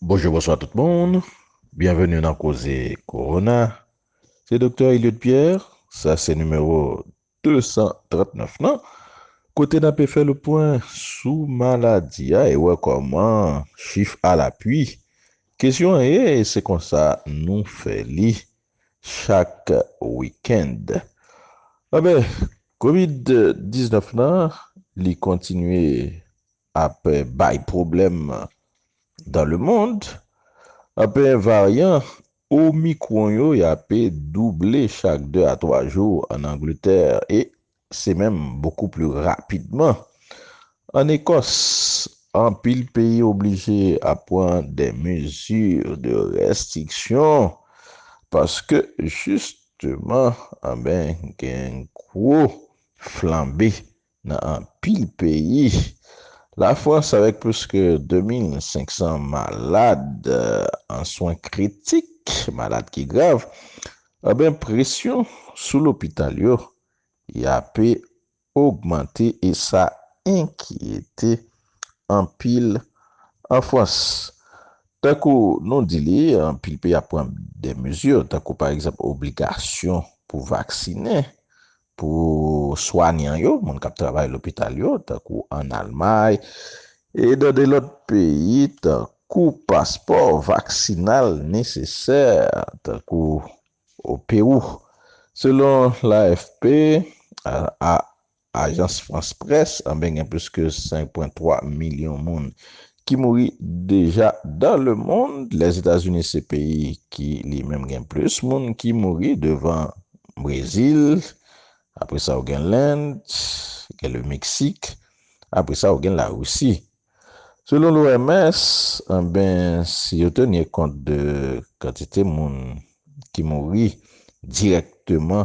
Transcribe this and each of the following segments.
Bonjou bonswa tout moun, byenveni nan koze korona, se Doktè Eliot Pierre, sa se nimewo 239 lan, kote n ape fè le pwen sou maladi a e wè kòman chif alapui. Kesyon an ye, e se konsa nou fè li, chak wikend. Anben, kovid 19 lan, li kontinye ap bay pwoblèm dan le mond. Anben, varyan omikwon yo y ape double chak 2 a 3 jou an Angletè e se menm bokou pli rapidman. An Ekòs, anpil peyi oblije ap pran de mezi de restriksyon paske jisteman anben gen gwo flanbe nan anpil peyi. Lafrans avèk plis ke 2 mil 500 malad an swen kritik, malad ki grav, anben presyon sou lopital yo yape ogmante e sa enkyete anpil an Frans. Tankou nou di li, anpil peyi ap pran de mezi, tankou pa egzanp obligasyon pou vaksinen pou swanyan yo, moun k ap travay lopital yo, tankou an Almay e nan de lòt peyi, tankou paspò vaksinal nesesè, tankou O Pewou, selon l'AFP, Ajans Frans Près, anben gen plis ke 5 pwen 3 milyon moun ki mouri deja dan le mond. Lèzetazini se peyi ki li menm gen plis moun ki mouri devan Brezil, apre sa ou gen Lend, gen le Meksik, apre sa ou gen Larisi. Selon l'OMS, anben si yo tenye kont de kantite moun ki mouri dirèkteman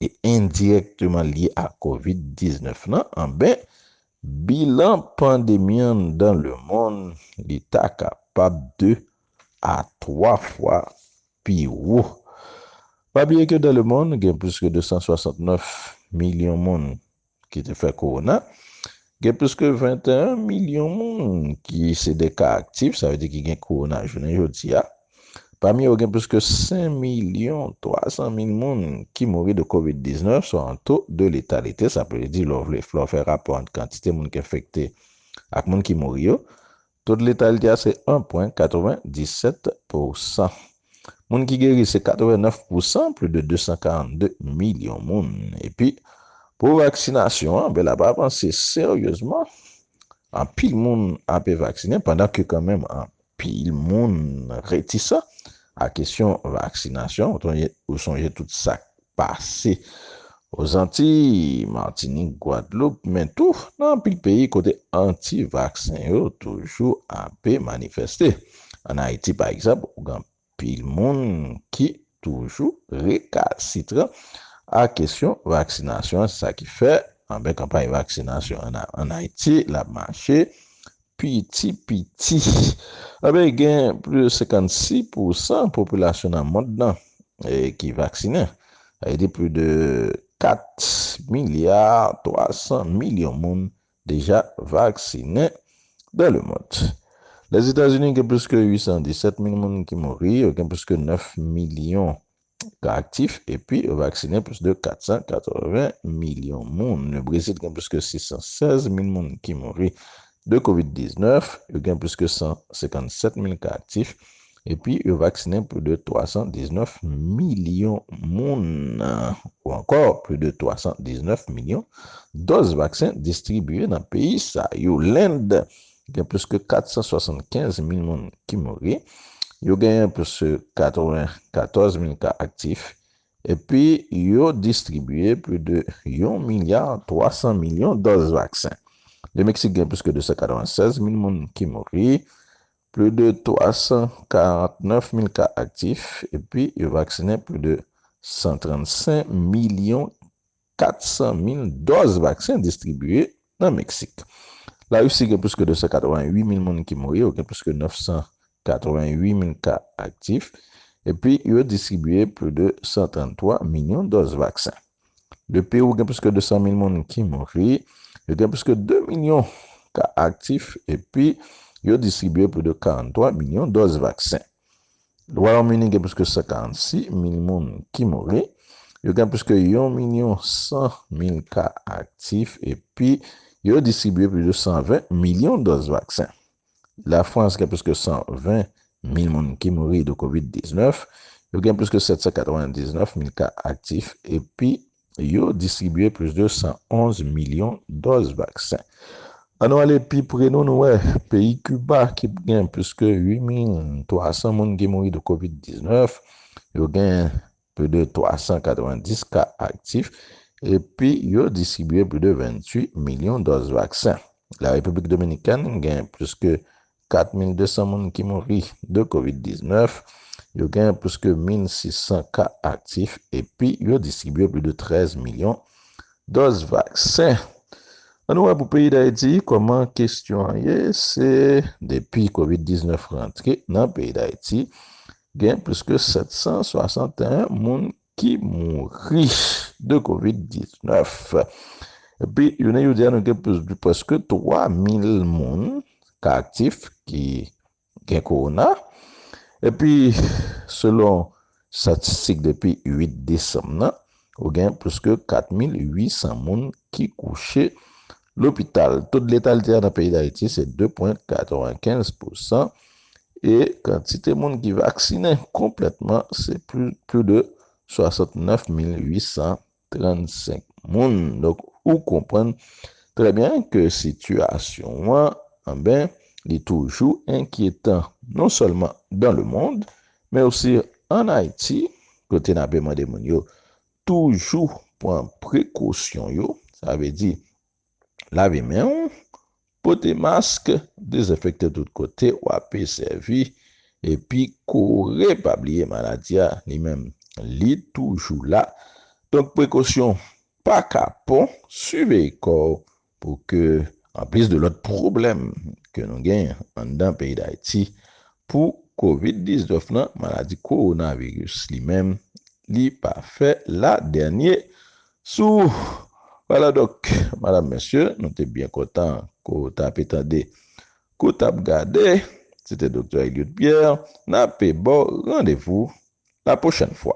e endirèkteman lye a Kovid 19 lan, anben bilan pandemi an dan le monn li ta kapab 2 a 3 fwa pi wo. Pa bliye ke dan le monn gen plis ke 269 milyon moun ki te fè kowona, gen plis ke 21 milyon moun ki se de ka aktif, sa vle di ki gen kowona jounen jodi a. Pami yo gen plis ke 5 milyon 300 mil moun ki mouri de Covid 19, swa yon to de letalite, sa vle di lè w fè rapò ant kantite moun ki enfekte ak moun ki mouri yo, To de letalité a se 1 pwen 97 pou san. Moun ki geri se 89 pou san, pli de 242 milyon moun. Epi, pou vaksinasyon an, bela pa avanse seryezman. Anpil moun ape vaksinen, pandan ke kan menm anpil moun retisan a kesyon vaksinasyon. Ou sonje tout sak pase o Zantiy, Matinik, Gwadloup, men tou nan anpil peyi kote anti-vaksen yo toujou ape manifeste. An Ayiti pa egzanp, ou gen anpil moun ki toujou rekasitran a kesyon vaksinasyon an, se sa ki fè anben kanpay vaksinasyon an Ayiti la mache Piti piti, anben gen plis de 56 pou san popilasyon nan mond lan ki vaksinen. Sa vle di plis de 4 milya 300 milyon moun deja vaksinen dan le mond. Lèzetazini gen plis ke 817 mil moun ki mouri, yo gen plis ke 9 milyon ka aktif epi yo vaksinen plis de 480 milyon moun. Le Brezil gen plis ke 616 mil moun ki mouri de Covid 19, yo gen plis ke 157 mil ka aktif epi yo vaksinen plis de 319 milyon moun ou ankò plis de 319 milyon dòz vaksen distribiye nan peyi sa yo. Lend Gen plis ke 475 mil moun ki mouri, yo genyen plis ke 94 mil ka aktif, epi yo distribye plis de yon milya 300 milyon dòz vaksen. Le Meksik gen plis ke 296 mil moun ki mouri, plis de 349 mil ka aktif, epi yo vaksinen plis de 135 milyon 400 mil dòz vaksen distribye nan Meksik. Larisi gen plis ke 288 mil moun ki mouri, yo gen plis ke 988 mil ka aktif, epi yo distribye plis de 133 milyon dòz vaksen. Le Pewou gen plis ke 200 mil moun ki mouri, yo gen plis ke 2 milyon ka aktif, epi yo distribye plis de 43 milyon dòz vaksen. Wayòm Ini gen plis ke 146 mil moun ki mouri, yo gen plis ke yon milyon 100 mil ka aktif epi yo distribye plis de 120 milyon dòz vaksen. Lafrans gen plis ke 120 mil moun ki mouri de Covid 19, yo gen plis ke 799 mil ka aktif epi yo distribye plis de 111 milyon dòz vaksen. An nou ale pi pre nou nou wè peyi Kiba ki p gen plis ke 8 mil 300 moun ki mouri de Kovid 19, yo gen pli de 390 ka aktif epi yo distribye pli de 28 milyon dòz vaksen. La Repiblik Dominikèn gen plis ke 4,200 moun ki mouri de Covid 19, yo gen plis ke 1,600 ka aktif epi yo distribye plis de 13 milyon dòz vaksen. An nou wè pou peyi Dayiti kòman kestyon an ye, se depi Covid 19 rantre nan peyi Dayiti, gen plis ke 761 moun ki mouri de covid 19 epi jounen jodi a nou gen plis de preske 3 mil moun ka aktif ki gen kowona epi selon statistik depi 8 desanm nan ou gen plis ke 4 mil 800 moun ki kouche Lopital, to de letalite a nan peyi Dayiti se 2 pwen 95 pousan e kantite moun ki vaksinen konplètman se plu de 69 mil 835 moun. Donk ou konprann trè byen ke sitiyasyon an anben li toujou enkyetan non sèlman dan le mond men osi an Ayiti kote n ape mande moun yo Toujou pran prekosyon yo, sa vle di, lave men ou, pote mask, dezenfekte tout kote w ape sèvi, epi kore pa bliye maladi a li menm li toujou la, donk prekosyon pa kapon, siveye kò w pou ke anplis de lòt pwoblèm ke nou gen anndan peyi Dayiti pou covid 19 lan, maladi kowonaviris li menm li pa fè la dènye sou wala donk madam mesye nou te byen kontan ko ta pe tande kou tap gade se te doktè Eliot Pierre na pe baw randevou la pwochèn fwa.